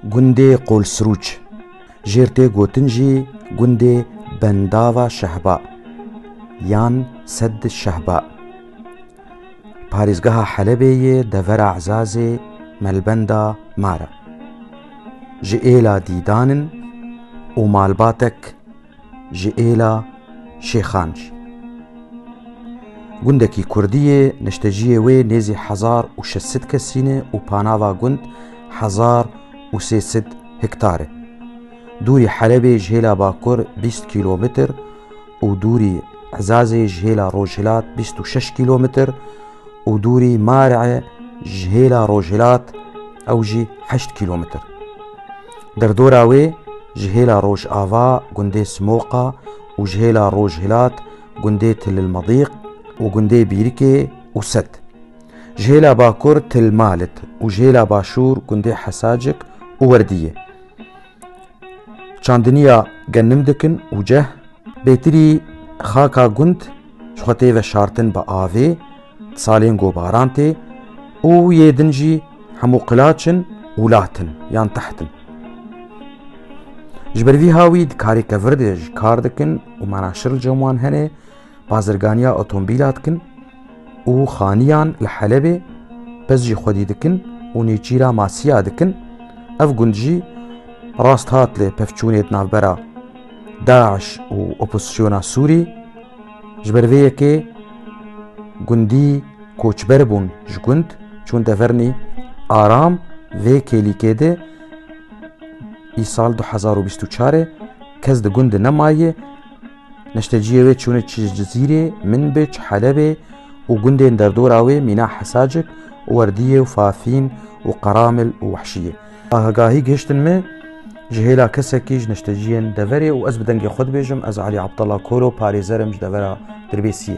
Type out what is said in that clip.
Gundê Qolsirûç, jêr tê gotin jî gundê Bendava Şehba yan Sedd Şehba, parêzgeha Helebê yê devera Ezazê Melbenda Mara. Ji êla dîdan in û malbatek, ji êla Şêxanc. Gundekî Kurdî yê, nişteciyê wê nêzî hezar û şeş sed kesî ne û panava gund hezar û sê sed hektar e. Dûrî Helebê ji hêla bakur bîst kîlometr û dûrî Ezazê ji hêla rojhilat bîst û şeş kîlometr û dûrî Mar'e ji hêla rojhilat ew jî heşt kîlometr. Derdora wê ji hêla rojava gundê Simoqa û ji hêla rojhilat gundê Tililmedîq û gundê Bîrikê û Set. Ji hêla bakur Tilmalit û ji hêla başûr gundê Hesacik û Werdiyê. Çandiniya genim dikin û ceh. Bêtirî xaka gund ji xwe tê veşartin bi avê, di salên gobaran tê û yê din jî hemû qilaç in û lat in yan teht in. Ji ber vî hawî di karê kevir de jî kar dikin û manaşir li cem wan hene, bazirganiya otomobîla dikin. û xaniyan li Helebê pez jî xwedî dikin û nêçîra masiya dikin. Ev gund jî rast hat li pevçûnê di navbera DAIŞ û opozîsyona Sûrî. Ji ber vê yekê gundî koçber bûn ji gund çûn devernî aram vê kêlîkê de îsal 2024 kes di gund de nemayê Neşteciyê wê çûne çi ji Cizîrê, Minbij, Helebê û gundên derdora wê mîna Hesacik, Werdiyê û Fafîn û Qeramil û Wehşiyê. Agahî gihiştin me ji hêla kesekî ji neşteciyên deverê û ez bi dengê xwe dibêjim ez Elî Abdallah Koro parêzer im ji devera Dirbêsiyê.